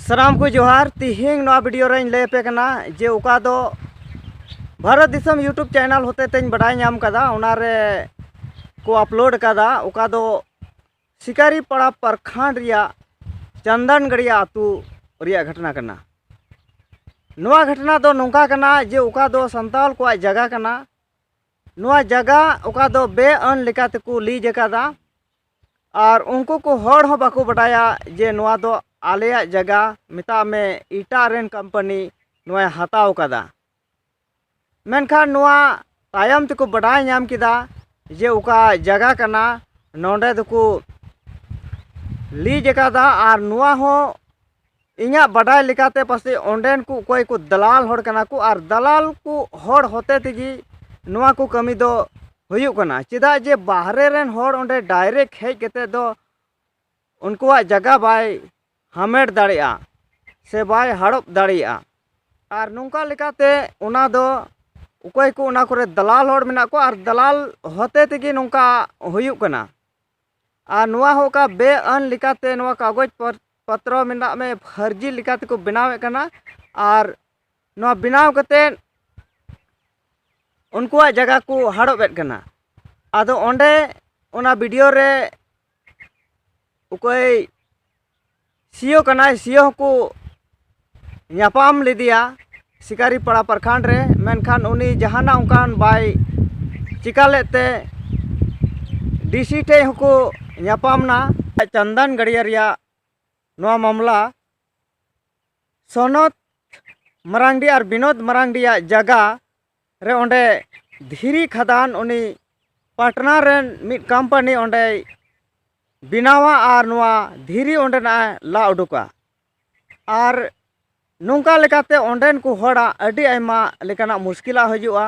ᱥᱟᱱᱟᱢ ᱠᱚ ᱡᱚᱦᱟᱨ ᱛᱤᱦᱤᱧ ᱱᱚᱣᱟ ᱵᱷᱤᱰᱤᱭᱳ ᱨᱮᱧ ᱞᱟᱹᱭ ᱟᱯᱮ ᱠᱟᱱᱟ ᱡᱮ ᱚᱠᱟ ᱫᱚ ᱵᱷᱟᱨᱚᱛ ᱫᱤᱥᱚᱢ ᱤᱭᱩᱴᱩᱵᱽ ᱪᱮᱱᱮᱞ ᱦᱚᱛᱮ ᱛᱮᱧ ᱵᱟᱰᱟᱭ ᱧᱟᱢ ᱠᱟᱫᱟ ᱚᱱᱟᱨᱮ ᱠᱚ ᱟᱯᱞᱳᱰ ᱠᱟᱫᱟ ᱚᱠᱟ ᱫᱚ ᱥᱤᱠᱟᱨᱤ ᱯᱟᱲᱟ ᱯᱨᱚᱠᱷᱚᱸᱰ ᱨᱮᱭᱟᱜ ᱪᱚᱱᱫᱚᱱᱜᱟᱲᱤᱭᱟ ᱟᱹᱛᱩ ᱨᱮᱭᱟᱜ ᱜᱷᱚᱴᱚᱱᱟ ᱠᱟᱱᱟ ᱱᱚᱣᱟ ᱜᱷᱚᱴᱚᱱᱟ ᱫᱚ ᱱᱚᱝᱠᱟ ᱠᱟᱱᱟ ᱡᱮ ᱚᱠᱟ ᱫᱚ ᱥᱟᱱᱛᱟᱲ ᱠᱚᱣᱟᱜ ᱡᱟᱭᱜᱟ ᱠᱟᱱᱟ ᱱᱚᱣᱟ ᱡᱟᱭᱜᱟ ᱚᱠᱟ ᱫᱚ ᱵᱮᱼᱟᱹᱱ ᱞᱮᱠᱟ ᱛᱮᱠᱚ ᱞᱤᱡᱽ ᱟᱠᱟᱫᱟ ᱟᱨ ᱩᱱᱠᱩ ᱠᱚ ᱦᱚᱲ ᱦᱚᱸ ᱵᱟᱠᱚ ᱵᱟᱰᱟᱭᱟ ᱡᱮ ᱱᱚᱣᱟ ᱫᱚ ᱟᱞᱮᱭᱟᱜ ᱡᱟᱭᱜᱟ ᱢᱮᱛᱟᱜ ᱢᱮ ᱮᱴᱟᱜ ᱨᱮᱱ ᱠᱳᱢᱯᱟᱱᱤ ᱱᱚᱣᱟᱭ ᱦᱟᱛᱟᱣ ᱟᱠᱟᱫᱟ ᱢᱮᱱᱠᱷᱟᱱ ᱱᱚᱣᱟ ᱛᱟᱭᱚᱢ ᱛᱮᱠᱚ ᱵᱟᱰᱟᱭ ᱧᱟᱢ ᱠᱮᱫᱟ ᱡᱮ ᱚᱠᱟ ᱡᱟᱭᱜᱟ ᱠᱟᱱᱟ ᱱᱚᱰᱮ ᱫᱚᱠᱚ ᱞᱤᱡᱽ ᱟᱠᱟᱫᱟ ᱟᱨ ᱱᱚᱣᱟ ᱦᱚᱸ ᱤᱧᱟᱹᱜ ᱵᱟᱰᱟᱭ ᱞᱮᱠᱟᱛᱮ ᱯᱟᱥᱮᱡ ᱚᱸᱰᱮᱱ ᱠᱚ ᱚᱠᱚᱭ ᱠᱚ ᱫᱟᱞᱟᱞ ᱦᱚᱲ ᱠᱟᱱᱟ ᱠᱚ ᱟᱨ ᱫᱟᱞᱟᱞ ᱠᱚ ᱦᱚᱲ ᱦᱚᱛᱮ ᱛᱮᱜᱮ ᱱᱚᱣᱟ ᱠᱚ ᱠᱟᱹᱢᱤ ᱫᱚ ᱦᱩᱭᱩᱜ ᱠᱟᱱᱟ ᱪᱮᱫᱟᱜ ᱡᱮ ᱵᱟᱦᱨᱮ ᱨᱮᱱ ᱦᱚᱲ ᱚᱸᱰᱮ ᱰᱟᱭᱨᱮᱠᱴ ᱦᱮᱡ ᱠᱟᱛᱮ ᱫᱚ ᱩᱱᱠᱩᱣᱟᱜ ᱡᱟᱭᱜᱟ ᱵᱟᱭ ᱦᱟᱢᱮᱴ ᱫᱟᱲᱮᱭᱟᱜᱼᱟ ᱥᱮ ᱵᱟᱭ ᱦᱟᱲᱚᱵ ᱫᱟᱲᱮᱭᱟᱜᱼᱟ ᱟᱨ ᱱᱚᱝᱠᱟ ᱞᱮᱠᱟᱛᱮ ᱚᱱᱟ ᱫᱚ ᱚᱠᱚᱭ ᱠᱚ ᱚᱱᱟ ᱠᱚᱨᱮ ᱫᱟᱞᱟᱞ ᱦᱚᱲ ᱢᱮᱱᱟᱜ ᱠᱚᱣᱟ ᱟᱨ ᱫᱟᱞᱟᱞ ᱦᱚᱛᱮ ᱛᱮᱜᱮ ᱱᱚᱝᱠᱟ ᱦᱩᱭᱩᱜ ᱠᱟᱱᱟ ᱟᱨ ᱱᱚᱣᱟ ᱦᱚᱸ ᱚᱠᱟ ᱵᱮᱼᱟᱹᱱ ᱞᱮᱠᱟᱛᱮ ᱱᱚᱣᱟ ᱠᱟᱜᱚᱡᱽ ᱯᱚᱛᱨᱚ ᱢᱮᱱᱟᱜ ᱢᱮ ᱯᱷᱟᱹᱨᱡᱤ ᱞᱮᱠᱟ ᱛᱮᱠᱚ ᱵᱮᱱᱟᱣᱮᱫ ᱠᱟᱱᱟ ᱟᱨ ᱱᱚᱣᱟ ᱵᱮᱱᱟᱣ ᱠᱟᱛᱮᱫ ᱩᱱᱠᱩᱣᱟᱜ ᱡᱟᱭᱜᱟ ᱠᱚ ᱦᱟᱲᱚᱵᱮᱫ ᱠᱟᱱᱟ ᱟᱫᱚ ᱚᱸᱰᱮ ᱚᱱᱟ ᱵᱷᱤᱰᱤᱭᱳ ᱨᱮ ᱚᱠᱚᱭ ᱥᱤᱭᱳ ᱠᱟᱱᱟᱭ ᱥᱤᱭᱳ ᱦᱚᱸᱠᱚ ᱧᱟᱯᱟᱢ ᱞᱮᱫᱮᱭᱟ ᱥᱤᱠᱟᱨᱤ ᱯᱟᱲᱟ ᱯᱨᱚᱠᱷᱚᱸᱰ ᱨᱮ ᱢᱮᱱᱠᱷᱟᱱ ᱩᱱᱤ ᱡᱟᱦᱟᱱᱟᱜ ᱚᱱᱠᱟᱱ ᱵᱟᱭ ᱪᱤᱠᱟᱹ ᱞᱮᱫ ᱛᱮ ᱰᱤ ᱥᱤ ᱴᱷᱮᱱ ᱦᱚᱸᱠᱚ ᱧᱟᱯᱟᱢ ᱮᱱᱟ ᱪᱚᱱᱫᱚᱱ ᱜᱟᱹᱲᱭᱟᱹ ᱨᱮᱭᱟᱜ ᱱᱚᱣᱟ ᱢᱟᱢᱞᱟ ᱥᱚᱱᱚᱛ ᱢᱟᱨᱟᱝᱰᱤ ᱟᱨ ᱵᱤᱱᱳᱫ ᱢᱟᱨᱟᱝᱰᱤᱭᱟᱜ ᱡᱟᱭᱜᱟ ᱨᱮ ᱚᱸᱰᱮ ᱫᱷᱤᱨᱤ ᱠᱷᱟᱫᱟᱱ ᱩᱱᱤ ᱯᱟᱴᱱᱟ ᱨᱮᱱ ᱢᱤᱫ ᱠᱳᱢᱯᱟᱱᱤ ᱚᱸᱰᱮᱭ ᱵᱮᱱᱟᱣᱟ ᱟᱨ ᱱᱚᱣᱟ ᱫᱷᱤᱨᱤ ᱚᱸᱰᱮᱱᱟᱜ ᱮ ᱞᱟ ᱩᱰᱩᱠᱟ ᱟᱨ ᱱᱚᱝᱠᱟ ᱞᱮᱠᱟᱛᱮ ᱚᱸᱰᱮᱱ ᱠᱚ ᱦᱚᱲᱟᱜ ᱟᱹᱰᱤ ᱟᱭᱢᱟ ᱞᱮᱠᱟᱱᱟᱜ ᱢᱩᱥᱠᱤᱞᱟᱜ ᱦᱤᱡᱩᱜᱼᱟ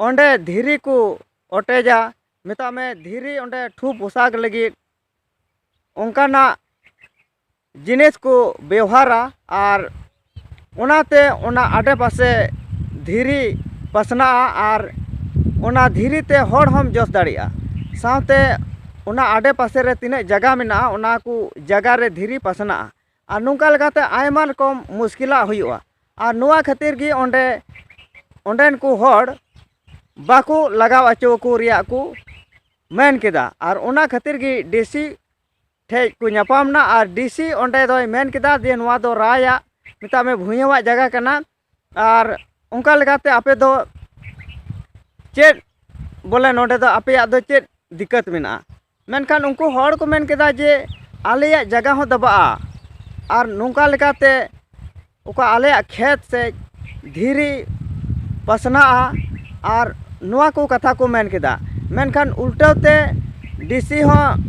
ᱚᱸᱰᱮ ᱫᱷᱤᱨᱤ ᱠᱚ ᱚᱴᱮᱡᱟ ᱢᱮᱛᱟᱜ ᱢᱮ ᱫᱷᱤᱨᱤ ᱚᱸᱰᱮ ᱴᱷᱩ ᱯᱚᱥᱟᱜᱽ ᱞᱟᱹᱜᱤᱫ ᱚᱱᱠᱟᱱᱟᱜ ᱡᱤᱱᱤᱥ ᱠᱚ ᱵᱮᱣᱦᱟᱨᱟ ᱟᱨ ᱚᱱᱟᱛᱮ ᱚᱱᱟ ᱟᱰᱮ ᱯᱟᱥᱮ ᱫᱷᱤᱨᱤ ᱯᱟᱥᱱᱟᱜᱼᱟ ᱟᱨ ᱚᱱᱟ ᱫᱷᱤᱨᱤ ᱛᱮ ᱦᱚᱲ ᱦᱚᱸᱢ ᱡᱚᱥ ᱫᱟᱲᱮᱭᱟᱜᱼᱟ ᱥᱟᱶᱛᱮ ᱚᱱᱟ ᱟᱰᱮ ᱯᱟᱥᱮ ᱨᱮ ᱛᱤᱱᱟᱹᱜ ᱡᱟᱭᱜᱟ ᱢᱮᱱᱟᱜᱼᱟ ᱚᱱᱟ ᱠᱚ ᱡᱟᱭᱜᱟ ᱨᱮ ᱫᱷᱤᱨᱤ ᱯᱟᱥᱱᱟᱜᱼᱟ ᱟᱨ ᱱᱚᱝᱠᱟ ᱞᱮᱠᱟᱛᱮ ᱟᱭᱢᱟ ᱨᱚᱠᱚᱢ ᱢᱩᱥᱠᱤᱞᱟᱜ ᱦᱩᱭᱩᱜᱼᱟ ᱟᱨ ᱱᱚᱣᱟ ᱠᱷᱟᱹᱛᱤᱨ ᱜᱮ ᱚᱸᱰᱮ ᱚᱸᱰᱮᱱ ᱠᱚ ᱦᱚᱲ ᱵᱟᱠᱚ ᱞᱟᱜᱟᱣ ᱦᱚᱪᱚ ᱟᱠᱚ ᱨᱮᱭᱟᱜ ᱠᱚ ᱢᱮᱱ ᱠᱮᱫᱟ ᱟᱨ ᱚᱱᱟ ᱠᱷᱟᱹᱛᱤᱨ ᱜᱮ ᱰᱤ ᱥᱤ ᱴᱷᱮᱡ ᱠᱚ ᱧᱟᱯᱟᱢ ᱮᱱᱟ ᱟᱨ ᱰᱤ ᱥᱤ ᱚᱸᱰᱮ ᱫᱚᱭ ᱢᱮᱱ ᱠᱮᱫᱟ ᱡᱮ ᱱᱚᱣᱟ ᱫᱚ ᱨᱟᱭᱟᱜ ᱢᱮᱛᱟᱜ ᱢᱮ ᱵᱷᱩᱭᱟᱹᱣᱟᱜ ᱡᱟᱭᱜᱟ ᱠᱟᱱᱟ ᱟᱨ ᱚᱱᱠᱟ ᱞᱮᱠᱟᱛᱮ ᱟᱯᱮ ᱫᱚ ᱪᱮᱫ ᱵᱚᱞᱮ ᱱᱚᱰᱮ ᱫᱚ ᱟᱯᱮᱭᱟᱜ ᱫᱚ ᱪᱮᱫ ᱫᱤᱠᱠᱟᱹᱛ ᱢᱮᱱᱟᱜᱼᱟ ᱢᱮᱱᱠᱷᱟᱱ ᱩᱱᱠᱩ ᱦᱚᱲ ᱠᱚ ᱢᱮᱱ ᱠᱮᱫᱟ ᱡᱮ ᱟᱞᱮᱭᱟᱜ ᱡᱟᱭᱜᱟ ᱦᱚᱸ ᱫᱟᱵᱟᱜᱼᱟ ᱟᱨ ᱱᱚᱝᱠᱟ ᱞᱮᱠᱟᱛᱮ ᱚᱠᱟ ᱟᱞᱮᱭᱟᱜ ᱠᱷᱮᱛ ᱥᱮᱫ ᱫᱷᱤᱨᱤ ᱯᱟᱥᱱᱟᱜᱼᱟ ᱟᱨ ᱱᱚᱣᱟ ᱠᱚ ᱠᱟᱛᱷᱟ ᱠᱚ ᱢᱮᱱ ᱠᱮᱫᱟ ᱢᱮᱱᱠᱷᱟᱱ ᱩᱞᱴᱟᱹᱣ ᱛᱮ ᱰᱤ ᱥᱤ ᱦᱚᱸ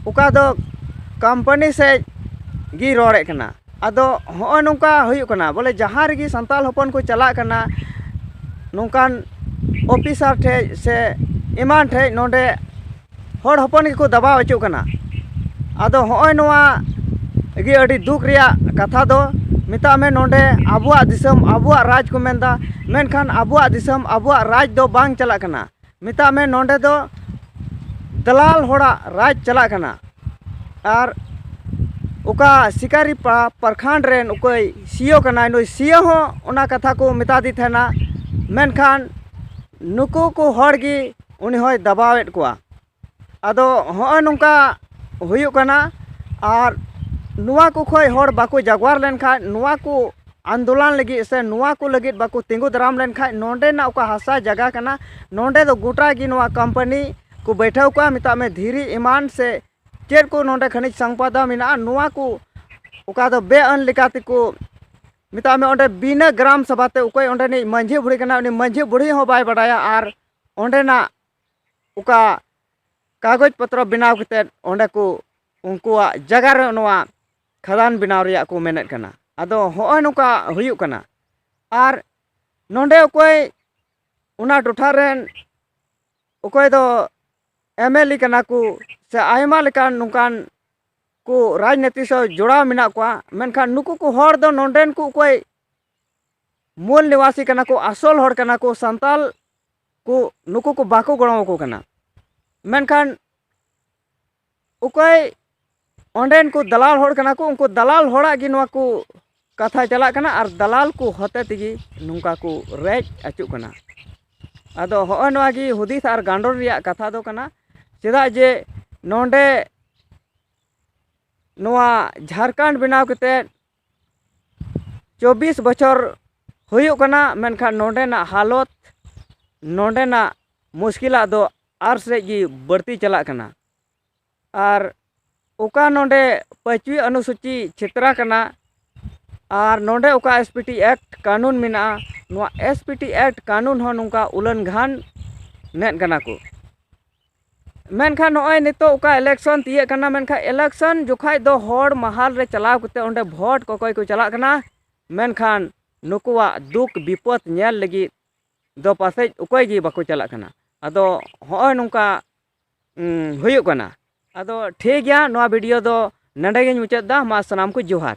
ᱚᱠᱟ ᱫᱚ ᱠᱳᱢᱯᱟᱱᱤ ᱥᱮᱫ ᱜᱮᱭ ᱨᱚᱲᱮᱫ ᱠᱟᱱᱟ ᱟᱫᱚ ᱦᱚᱸᱜᱼᱚᱭ ᱱᱚᱝᱠᱟ ᱦᱩᱭᱩᱜ ᱠᱟᱱᱟ ᱵᱚᱞᱮ ᱡᱟᱦᱟᱸ ᱨᱮᱜᱮ ᱥᱟᱱᱛᱟᱲ ᱦᱚᱯᱚᱱ ᱠᱚ ᱪᱟᱞᱟᱜ ᱠᱟᱱᱟ ᱱᱚᱝᱠᱟᱱ ᱚᱯᱷᱤᱥᱟᱨ ᱴᱷᱮᱱ ᱥᱮ ᱮᱢᱟᱱ ᱴᱷᱮᱱ ᱱᱚᱰᱮ ᱦᱚᱲ ᱦᱚᱯᱚᱱ ᱜᱮᱠᱚ ᱫᱟᱵᱟᱣ ᱦᱚᱪᱚᱜ ᱠᱟᱱᱟ ᱟᱫᱚ ᱦᱚᱸᱜᱼᱚᱭ ᱱᱚᱣᱟ ᱜᱮ ᱟᱹᱰᱤ ᱫᱩᱠ ᱨᱮᱭᱟᱜ ᱠᱟᱛᱷᱟ ᱫᱚ ᱢᱮᱛᱟᱜ ᱢᱮ ᱱᱚᱰᱮ ᱟᱵᱚᱣᱟᱜ ᱫᱤᱥᱚᱢ ᱟᱵᱚᱣᱟᱜ ᱨᱟᱡᱽ ᱠᱚ ᱢᱮᱱᱫᱟ ᱢᱮᱱᱠᱷᱟᱱ ᱟᱵᱚᱣᱟᱜ ᱫᱤᱥᱚᱢ ᱟᱵᱚᱣᱟᱜ ᱨᱟᱡᱽ ᱫᱚ ᱵᱟᱝ ᱪᱟᱞᱟᱜ ᱠᱟᱱᱟ ᱢᱮᱛᱟᱜ ᱢᱮ ᱱᱚᱰᱮ ᱫᱚ ᱫᱟᱞᱟᱞ ᱦᱚᱲᱟᱜ ᱨᱟᱡᱽ ᱪᱟᱞᱟᱜ ᱠᱟᱱᱟ ᱟᱨ ᱚᱠᱟ ᱥᱤᱠᱟᱨᱤ ᱯᱨᱚᱠᱷᱚᱸᱰ ᱨᱮᱱ ᱚᱠᱚᱭ ᱥᱤᱭᱳ ᱠᱟᱱᱟᱭ ᱱᱩᱭ ᱥᱤᱭᱳ ᱦᱚᱸ ᱚᱱᱟ ᱠᱟᱛᱷᱟ ᱠᱚ ᱢᱮᱛᱟᱫᱮ ᱛᱟᱦᱮᱱᱟ ᱢᱮᱱᱠᱷᱟᱱ ᱱᱩᱠᱩ ᱠᱚ ᱦᱚᱲ ᱜᱮ ᱩᱱᱤ ᱦᱚᱸᱭ ᱫᱟᱵᱟᱣᱮᱫ ᱠᱚᱣᱟ ᱟᱫᱚ ᱦᱚᱸᱜᱼᱚᱭ ᱱᱚᱝᱠᱟ ᱦᱩᱭᱩᱜ ᱠᱟᱱᱟ ᱟᱨ ᱱᱚᱣᱟ ᱠᱚ ᱠᱷᱚᱡ ᱦᱚᱲ ᱵᱟᱠᱚ ᱡᱟᱜᱽᱣᱟᱨ ᱞᱮᱱᱠᱷᱟᱡ ᱱᱚᱣᱟ ᱠᱚ ᱟᱱᱫᱳᱞᱚᱱ ᱞᱟᱹᱜᱤᱫ ᱥᱮ ᱱᱚᱣᱟ ᱠᱚ ᱞᱟᱹᱜᱤᱫ ᱵᱟᱠᱚ ᱛᱤᱸᱜᱩ ᱫᱟᱨᱟᱢ ᱞᱮᱱᱠᱷᱟᱡ ᱱᱚᱰᱮᱱᱟᱜ ᱚᱠᱟ ᱦᱟᱥᱟ ᱡᱟᱭᱜᱟ ᱠᱟᱱᱟ ᱱᱚᱰᱮ ᱫᱚ ᱜᱚᱴᱟ ᱜᱮ ᱱᱚᱣᱟ ᱠᱳᱢᱯᱟᱱᱤ ᱠᱚ ᱵᱟᱹᱭᱴᱷᱟᱹᱣ ᱠᱚᱣᱟ ᱢᱮᱛᱟᱜ ᱢᱮ ᱫᱷᱤᱨᱤ ᱮᱢᱟᱱ ᱥᱮ ᱪᱮᱫ ᱠᱚ ᱱᱚᱰᱮ ᱠᱷᱟᱹᱱᱤᱡ ᱥᱚᱢᱯᱚᱫ ᱢᱮᱱᱟᱜᱼᱟ ᱱᱚᱣᱟ ᱠᱚ ᱚᱠᱟ ᱫᱚ ᱵᱮ ᱟᱹᱱ ᱞᱮᱠᱟ ᱛᱮᱠᱚ ᱢᱮᱛᱟᱜ ᱢᱮ ᱚᱸᱰᱮ ᱵᱤᱱᱟᱹ ᱜᱨᱟᱢ ᱥᱚᱵᱷᱟ ᱛᱮ ᱚᱠᱚᱭ ᱚᱸᱰᱮᱱᱤᱡ ᱢᱟᱹᱡᱷᱤ ᱵᱩᱲᱦᱤ ᱠᱟᱱᱟᱭ ᱩᱱᱤ ᱢᱟᱹᱡᱷᱤ ᱵᱩᱲᱦᱤ ᱦᱚᱸ ᱵᱟᱭ ᱵᱟᱰᱟᱭᱟ ᱟᱨ ᱚᱸᱰᱮᱱᱟᱜ ᱚᱠᱟ ᱠᱟᱜᱚᱡᱽ ᱯᱚᱛᱨᱚ ᱵᱮᱱᱟᱣ ᱠᱟᱛᱮᱫ ᱚᱸᱰᱮ ᱠᱚ ᱩᱱᱠᱩᱣᱟᱜ ᱡᱟᱭᱜᱟ ᱨᱮ ᱱᱚᱣᱟ ᱠᱷᱟᱫᱟᱱ ᱵᱮᱱᱟᱣ ᱨᱮᱭᱟᱜ ᱠᱚ ᱢᱮᱱᱮᱫ ᱠᱟᱱᱟ ᱟᱫᱚ ᱦᱚᱸᱜᱼᱚᱭ ᱱᱚᱝᱠᱟ ᱦᱩᱭᱩᱜ ᱠᱟᱱᱟ ᱟᱨ ᱱᱚᱰᱮ ᱚᱠᱚᱭ ᱚᱱᱟ ᱴᱚᱴᱷᱟ ᱨᱮᱱ ᱚᱠᱚᱭ ᱫᱚ ᱮᱢ ᱮᱞ ᱮ ᱠᱟᱱᱟ ᱠᱚ ᱥᱮ ᱟᱭᱢᱟ ᱞᱮᱠᱟᱱ ᱱᱚᱝᱠᱟᱱ ᱠᱚ ᱨᱟᱡᱽᱱᱤᱛᱤ ᱥᱟᱶ ᱡᱚᱲᱟᱣ ᱢᱮᱱᱟᱜ ᱠᱚᱣᱟ ᱢᱮᱱᱠᱷᱟᱱ ᱱᱩᱠᱩ ᱠᱚ ᱦᱚᱲ ᱫᱚ ᱱᱚᱰᱮᱱ ᱠᱚ ᱚᱠᱚᱭ ᱢᱩᱞ ᱱᱤᱣᱟᱥᱤ ᱠᱟᱱᱟ ᱠᱚ ᱟᱥᱚᱞ ᱦᱚᱲ ᱠᱟᱱᱟ ᱠᱚ ᱥᱟᱱᱛᱟᱞ ᱠᱚ ᱱᱩᱠᱩ ᱠᱚ ᱵᱟᱠᱚ ᱜᱚᱲᱚ ᱟᱠᱚ ᱠᱟᱱᱟ ᱢᱮᱱᱠᱷᱟᱱ ᱚᱠᱚᱭ ᱚᱸᱰᱮᱱ ᱠᱚ ᱫᱟᱞᱟᱞ ᱦᱚᱲ ᱠᱟᱱᱟ ᱠᱚ ᱩᱱᱠᱩ ᱫᱟᱞᱟᱞ ᱦᱚᱲᱟᱜ ᱜᱮ ᱱᱚᱣᱟ ᱠᱚ ᱠᱟᱛᱷᱟ ᱪᱟᱞᱟᱜ ᱠᱟᱱᱟ ᱟᱨ ᱫᱟᱞᱟᱞ ᱠᱚ ᱦᱚᱛᱮ ᱛᱮᱜᱮ ᱱᱚᱝᱠᱟ ᱠᱚ ᱨᱮᱡ ᱟᱹᱪᱩᱜ ᱠᱟᱱᱟ ᱟᱫᱚ ᱦᱚᱸᱜᱼᱚᱭ ᱱᱚᱣᱟ ᱜᱮ ᱦᱩᱫᱤᱥ ᱟᱨ ᱜᱟᱸᱰᱚᱱ ᱨᱮᱭᱟᱜ ᱠᱟᱛᱷᱟ ᱫᱚ ᱠᱟᱱᱟ ᱪᱮᱫᱟᱜ ᱡᱮ ᱱᱚᱰᱮ ᱱᱚᱣᱟ ᱡᱷᱟᱲᱠᱷᱚᱸᱰ ᱵᱮᱱᱟᱣ ᱠᱟᱛᱮᱫ ᱪᱚᱵᱵᱤᱥ ᱵᱚᱪᱷᱚᱨ ᱦᱩᱭᱩᱜ ᱠᱟᱱᱟ ᱢᱮᱱᱠᱷᱟᱱ ᱱᱚᱰᱮᱱᱟᱜ ᱦᱟᱞᱚᱛ ᱱᱚᱰᱮᱱᱟᱜ ᱢᱩᱥᱠᱤᱞᱟᱜ ᱫᱚ ᱟᱨ ᱥᱮᱫ ᱜᱮ ᱵᱟᱹᱲᱛᱤ ᱪᱟᱞᱟᱜ ᱠᱟᱱᱟ ᱟᱨ ᱚᱠᱟ ᱱᱚᱰᱮ ᱯᱟᱸᱪᱣᱤ ᱚᱱᱩᱥᱩᱪᱤ ᱪᱷᱮᱛᱨᱟ ᱠᱟᱱᱟ ᱟᱨ ᱱᱚᱰᱮ ᱚᱠᱟ ᱮᱥ ᱯᱤ ᱴᱤ ᱮᱠᱴ ᱠᱟᱹᱱᱩᱱ ᱢᱮᱱᱟᱜᱼᱟ ᱱᱚᱣᱟ ᱮᱥ ᱯᱤ ᱴᱤ ᱮᱠᱴ ᱠᱟᱹᱱᱩᱱ ᱦᱚᱸ ᱱᱚᱝᱠᱟ ᱩᱞᱟᱹᱱᱜᱷᱟᱱ ᱱᱮᱫ ᱠᱟᱱᱟ ᱠᱚ ᱢᱮᱱᱠᱷᱟᱱ ᱱᱚᱜᱼᱚᱭ ᱱᱤᱛᱚᱜ ᱚᱠᱟ ᱤᱞᱮᱠᱥᱚᱱ ᱛᱤᱭᱟᱹᱜ ᱠᱟᱱᱟ ᱢᱮᱱᱠᱷᱟᱱ ᱤᱞᱮᱠᱥᱚᱱ ᱡᱚᱠᱷᱟᱡ ᱫᱚ ᱦᱚᱲ ᱢᱟᱦᱟᱞ ᱨᱮ ᱪᱟᱞᱟᱣ ᱠᱟᱛᱮ ᱚᱸᱰᱮ ᱵᱷᱳᱴ ᱠᱚᱠᱚᱭ ᱠᱚ ᱪᱟᱞᱟᱜ ᱠᱟᱱᱟ ᱢᱮᱱᱠᱷᱟᱱ ᱱᱩᱠᱩᱣᱟᱜ ᱫᱩᱠ ᱵᱤᱯᱚᱫ ᱧᱮᱞ ᱞᱟᱹᱜᱤᱫ ᱫᱚ ᱯᱟᱥᱮᱡ ᱚᱠᱚᱭ ᱜᱮ ᱵᱟᱠᱚ ᱪᱟᱞᱟᱜ ᱠᱟᱱᱟ ᱟᱫᱚ ᱦᱚᱸᱜᱼᱚᱭ ᱱᱚᱝᱠᱟ ᱦᱩᱭᱩᱜ ᱠᱟᱱᱟ ᱟᱫᱚ ᱴᱷᱤᱠ ᱜᱮᱭᱟ ᱱᱚᱣᱟ ᱵᱷᱤᱰᱤᱭᱳ ᱫᱚ ᱱᱚᱰᱮ ᱜᱮᱧ ᱢᱩᱪᱟᱹᱫ ᱮᱫᱟ ᱢᱟ ᱥᱟᱱᱟᱢ ᱠᱚ ᱡᱚᱦᱟᱨ